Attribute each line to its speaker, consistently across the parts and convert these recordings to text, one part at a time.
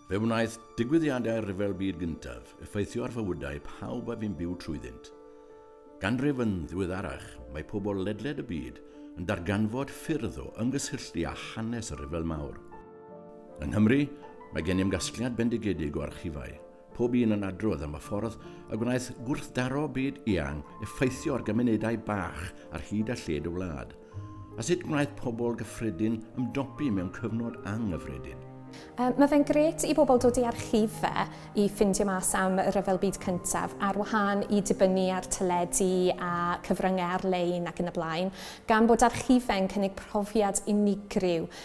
Speaker 1: Fe wnaeth digwyddiadau'r Rhyfel Byd Gyntaf effeithio ar fywydau pawb a fi'n byw trwyddynt. Ganrif yn ddiweddarach, mae pobl ledled y byd yn darganfod ffyrdd o ymgysylltu â hanes y Rhyfel Mawr. Yng Nghymru, mae gennym gasgliad bendigedig o archifau Pob un yn adrodd am y ffordd y gwnaeth gwrthdaro byd eang effeithio ar gymunedau bach ar hyd a lled y wlad, a sut gwnaeth pobl gyffredin ymdopi mewn cyfnod anghyffredin. Um, mae fe'n
Speaker 2: gret i bobl dod i archif fe i ffindio mas am y Rhyfel Byd Cyntaf, ar wahân i dibynnu ar teledu a cyfryngau ar-lein ac yn y blaen, gan bod archifau'n cynnig profiad unigryw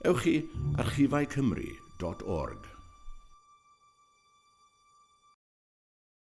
Speaker 1: Ewch i archifaecymru dot org.